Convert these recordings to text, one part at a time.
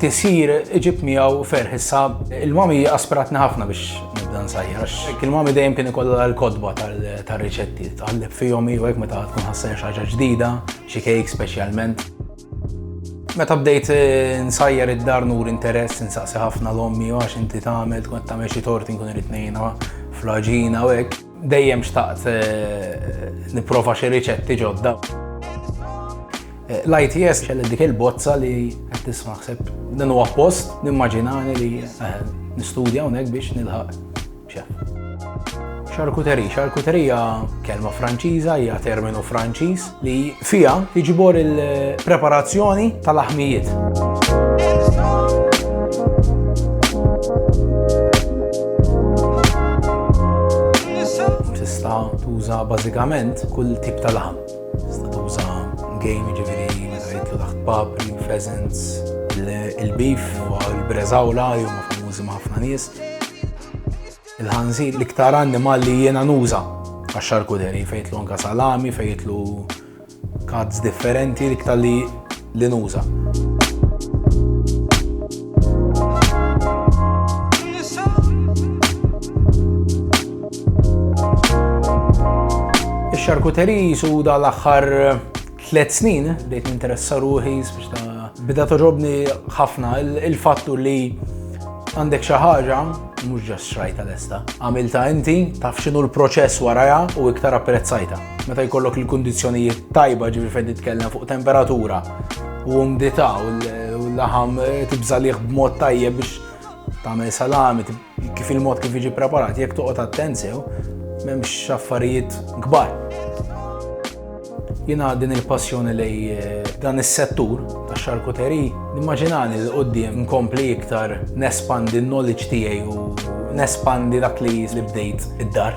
Tisir iġib miegħu ferħ issa il-mami aspiratni ħafna biex nibda nsajjar għax il-mami dejjem kien ikollha l-kodba tar-riċetti tqalleb fihom jew hekk meta tkun ħassejn xi ħaġa ġdida, xi kejk speċjalment. Meta bdejt eh, nsajjar id-dar nur interess insaqsi ħafna l-ommi għax inti tagħmel tkun tagħmel xi tort inkun irid ngħinha fl-aġina u hekk. Dejjem xtaqt eh, nipprova xi riċetti ġodda. Eh, L-ITS xelli dik il-bozza li qed tisma' ħseb din huwa post nimmaġinani li eh, nistudja hawnhekk biex nilħaq xef. Xarkuteri, xarkuterija kelma Franċiża hija terminu Franċiż li fiha jiġbor il-preparazzjoni tal-aħmijiet. tuża bażikament kull tip ta' laħam. Tista' tuża game ġifieri jitlu taħt papri, pheasants, il-beef, il-breżawla, jumma famużi ma' ħafna nies. Il-ħanżir l-iktar annimal li jiena nuża għax-xarkuderi fejn jitlu anka salami, fejn jitlu kazz differenti l-iktar li li nuża. Ix-xarkuteri suda l-aħħar tliet snin bdejt ninteressa ruħi biex ta' bida toġobni ħafna il-fattu li għandek xi ħaġa mhux ġas xrajta lesta. Għamilta inti taf x'inhu l-proċess warajha u iktar apprezzajta. Meta jkollok il-kundizzjonijiet tajba ġifi fejn titkellem fuq temperatura u umdità u l-laħam tibżalih b'mod tajjeb biex tagħmel salami Kif il-mod kif jiġi preparat, jekk toqgħod attent sew, m'hemmx affarijiet kbar. Jiena din il-passjoni lej eh, dan is-settur tax xarkuteri nimmaġinani li qudiem nkompli iktar nespandi n-knowledge tiegħi u nespandi dak li bdejt id-dar.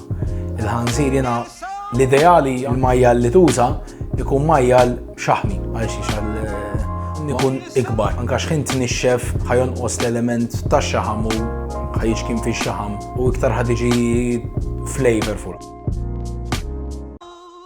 Il-ħanżir jena l-ideali l-majjal li tuża ikun majjal xaħmi għal xi xal ikun ikbar. Anka xħin t-nixxef ħajon os l-element ta' xaħam u ħajġ kien fi xaħam u iktar ħadiġi flavorful.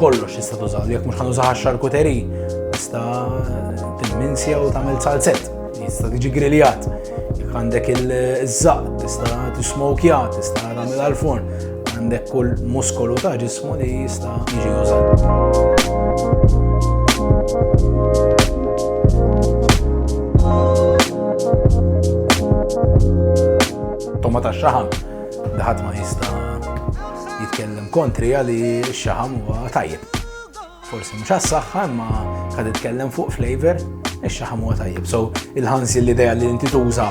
Kollox tista' tużaw, jekk mhux ħanużaw għax-xarkuteri, tista' tilminsja u tagħmel salzett, tista' tiġi griljat. Jekk għandek il-żaq, tista' tismokja, tista' tagħmel għall-forn, għandek kull muskolu ta' ġismu li jista' jiġi użat. Toma ta' xaħam, daħat ma jista' jitkellem kontrija li x-xaħam huwa tajjeb. Forsi mhux għas-saħħa imma kad jitkellem fuq flavor, ix-xaħam huwa tajjeb. So il-ħanżir l-idea li inti tuża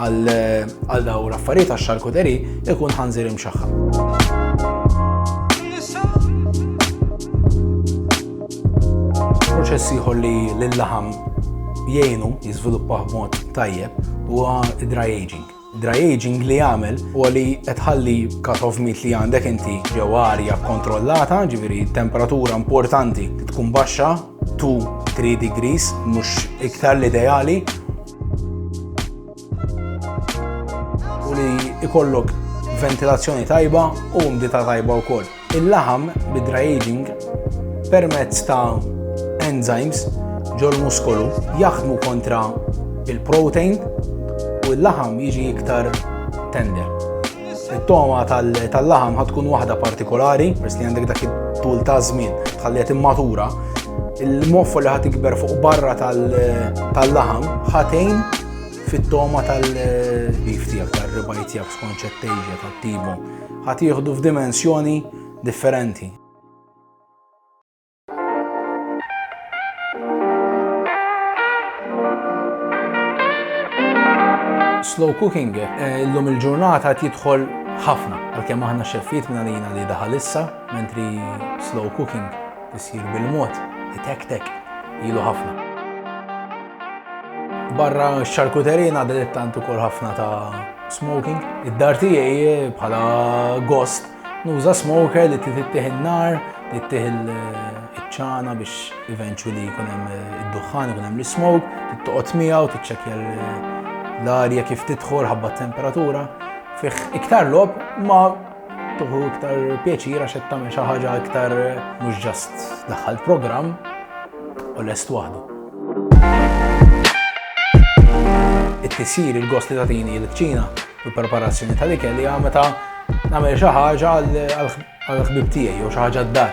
għal daw l-affarijiet għax-xarkuteri ikun ħanżir imxaħħam. proċess ieħor li l-laħam jgħinu jiżviluppaħ b'mod tajjeb huwa dry aging. Dry aging li jagħmel huwa li qed tħalli cut of meat li għandek inti ġew arja kontrollata, ġifieri temperatura importanti tkun baxxa 2-3 degrees mhux iktar l-ideali. U li ikollok ventilazzjoni tajba u mdita tajba wkoll. Il-laħam bid-dry aging permezz ta' enzymes ġol-muskolu jaħdmu kontra il-protein u l-laħam jiġi iktar tender. It-toma tal-laħam ħad tkun waħda partikolari, pers li għandek dak it-tul ta' żmien tħalliet immatura, il-moffa li ħad ikber fuq barra tal-laħam ħatejn fit-toma tal-bif tiegħek, tal-ribaj tiegħek skonċettejja tat-tibu. Ħadd jieħdu f'dimensjoni differenti. slow cooking eh, illum il-ġurnata qed jidħol ħafna għalkemm aħna xeffiet minn għalina li daħal issa, mentri slow cooking isir bil-mod, itek-tek, ilu ħafna. Barra x-xarkuterija ngħaddi li tant ukoll ħafna ta' smoking. Id-dar tiegħi bħala gost nuża smoker li tittih in-nar, li tittih il-ċana biex eventually jkun hemm id-duħħan, jkun hemm l-smoke, tittoqgħod miegħu, tiċċekkja l-arja kif tidħol ħabba temperatura. Fih iktar lob ma Tuħu iktar pjaċir għax qed tagħmel xi ħaġa iktar mhux ġast daħħalt programm u lest waħdu. It-tisir il-gost li tagħtini l-kċina u l-preparazzjoni tal-ikel hija meta nagħmel xi ħaġa għall-ħbib tiegħi jew xi ħaġa d-dar.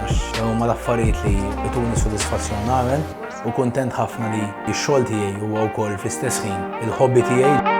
għax dawn huma l-affarijiet li jtuni sodisfazzjon nagħmel u kuntent ħafna li x-xogħol tiegħi huwa wkoll fl-istess ħin il-hobby tiegħi.